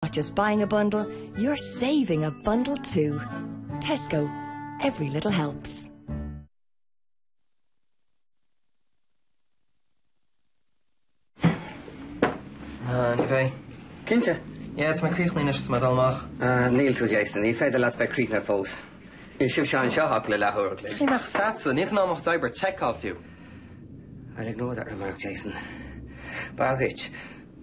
Not just buying a bundle, you're saving a bundle too. Tesco, every little helps. Ah, ní bheidh. Cinnte? Yeah, tá mé críochnaithe anois, is mé ag dul amach. Ah, níl tú Jason, ní féidir leat bheith críochnaithe fós. Níl seisean anseo ach le leathuair an chloig. Cá mbeadh a fhios agatsa, níl an am ach d'oibrigh Chekhov fiú. I'll ignore that remark, Jason. Baghait.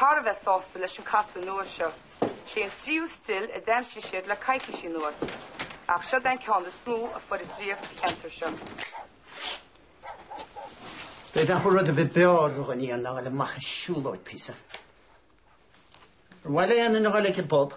Thar a bheith sásta leis an casadh nua seo, is é an tríú stil a d'aimsigh siad le coicís anuas, ach seo é an ceann is mó a fuarthas riamh sa cheantar seo. Beidh acu rud a bheith beo a rugadh duine in ann a dhul amach ag siúlóid píosa. Ar mhaith le Éanna na Gaeilge bob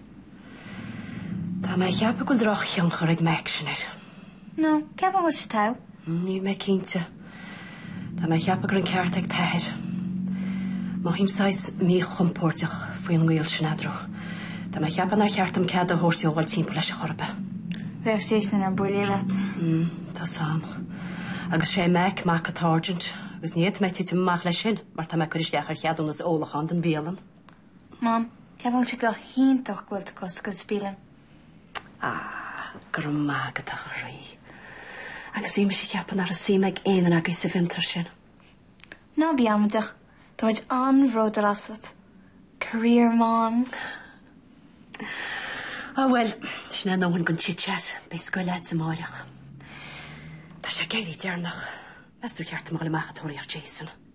Tá mé a cheapadh go bhfuil drochthionchar ag Mack sin air. No, ceapaim go bhfuil sé togha. Níl mé cinnte. Tá mé a cheapadh go raibh an ceart ag t'athair. Mothaím saghas míchompóirdeach faoin ngaol sin eadrau. Tá mé a cheapadh nár cheart dom cead a thabhairt dhó a dhul timpeall leis a chor ar bith. Bheadh Jason ar buile leat. Mm, tá a fhios agam. Agus is é Mack mac an tsáirsint, agus ní fhéadfaidh mé titim amach leis sin mar tá mé ag cur isteach ar cheadúnas ólacháin don bhialann. Mom, ceapaim sé go hiontach go bhfuil tú ag oscailt bialann. Ah, go raibh maith agat a chroí. Agus bhí mise a cheapadh nach raibh suim ag éinne agaibh sa bhfiontar sin. Ná bí amaideach, tá muid an-bhródúil asat. Career mom. Ah bhuel, sin ár ndóthain den chit chat, beidh scoil agat amáireach. Tá sé ag éirí deireanach. Meas tú ar cheart dom a ghoil amach ag tóraíocht Jason.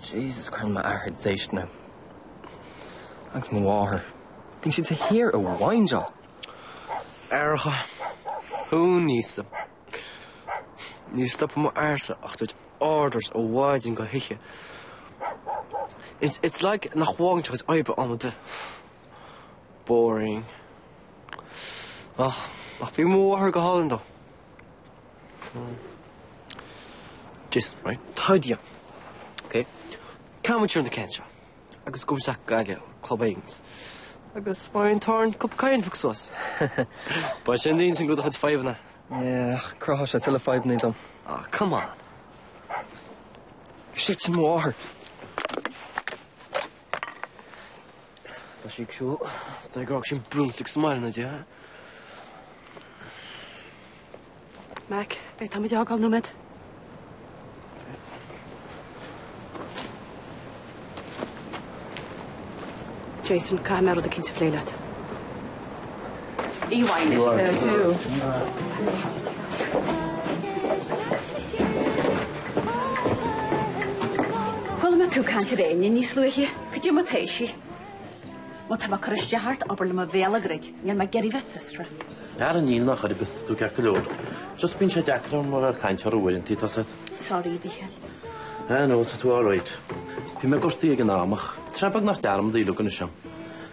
Jesus cuireann m'athair déistean orm. Agus mo mháthair. Bíonn siad de shíor ag whineáil. Aithreacha. Who needs them? Ní stopann m'athairse ach ag tabhairt orders ó mhaidin go hoíche. It's it's like nach bhfágann sé a chuid oibre am ar bith. Boring. Ach ach bhí mo mháthair go hálainn though. Jason, right? How do you? Ok? Cá bhfuair tú na cans seo? Agus go bhfuil sac gaile ó Club Aonghus. Agus má fhaigheann Turn Up Cian fuck suas. Beidh sé in ann déileáil le do chuid fadhbanna. Yeah, ach chruthódh sé tuilleadh fadhbanna dom. Aw, come on. Shit, sin mo mháthair. Tá sí ag siúl is dóigh gur fhág sí an broomstick sa mbaile ina diaidh, ha? Mac, bí tá mé ag d'fhágáil nóiméad. Jason, caithfidh mé rud eicínt a phlé leat. Chuala mé tú ag caint ar Éinne níos luaithe, go dtí mo theachsa. Má tá mé ag cur isteach ort, abair liom mo bhéal a dhruid, níl mé ag iarraidh bheith fiosrach. Ara níl ná chor ar bith tá tú ceart go leor. Just bíonn sé deacair orm a bheith ag caint air uaireanta, tá a fhios agat. Sorry, Mícheál. Ah no, tá tú alright. Bhí mé gortaithe ag an am ach, tá sé beagnach dearmadta liom anois ann.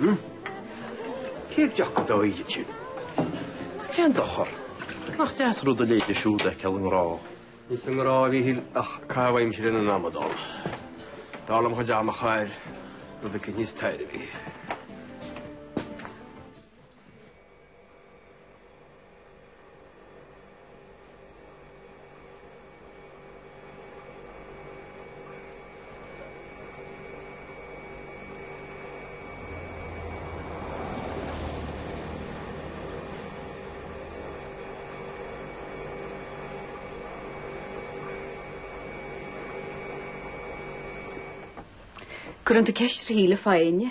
Hm. Cé ag dearcadh dá oíche sin? Is cén dochar? Nach deas rud a léite siúd aici a ngrá? Ní sa ngrá a bhí Hill ach cá bhfeidhmse lena n-amadán. Dar liom chomh dearnach a air rud aici níos tairbhí. Cuirfidh tú ceist ar Shíle fá Éinne?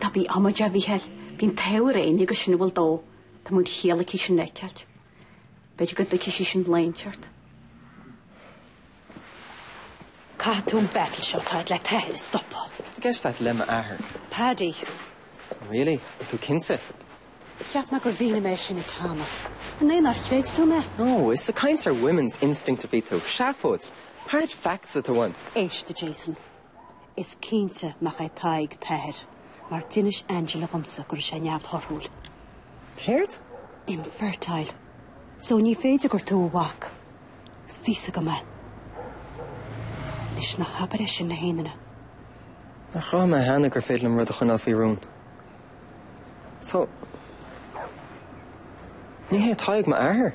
Ná bí amaideach, a Mhíchíl. Bíonn athair Éinne ag insint a bhfuil dó, tá de chiall aici sin a fheiceáilt. B'fhéidir go dtuigfidh sí sin léim ort. Caithfidh tú an battle seo atá agat le t'athair a stopadh. I guess that le m'athair. Paddy. Really? Ar tú cinnte? Cheap mé gur mhínigh mé sin duit cheana. An é nár chreid tú mé? No, is ag caint ar women's instinct a bhí tú. Seafóid. Hard facts atá ann. Éist, a Jason. Is cinnte nach é Tadhg t'athair, mar d'inis Angela dhomsa go raibh sé neamhthorthúil. Céard? Infertile. So ní féidir gur tú a mhac. Bhí a fhios agam é. Anois, ná habair é sin le héinne. Nár chruthaigh mé cheana gur féidir liom rud a choinneáil faoi rún. So, ní hé Tadhg m'athair?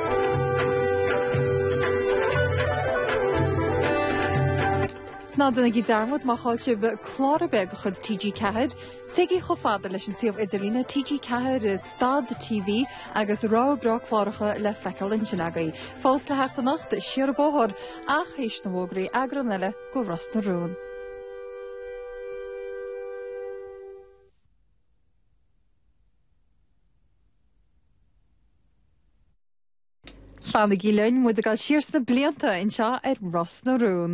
Ná déanaigí dearmad má chaill sibh clár ar bith de chuid TG4, téigí chomh fada leis an suíomh idirlíne TG4 Stad TV agus rogha bhreá cláracha le feiceáil ansin agaibh. Fós le theacht anocht, siar an bóthar, ach théis na bhfógraí, eagrán eile de Ros na Rún. Fanaigí linn muid ag goil siar sna blianta anseo ar Ros na Rún.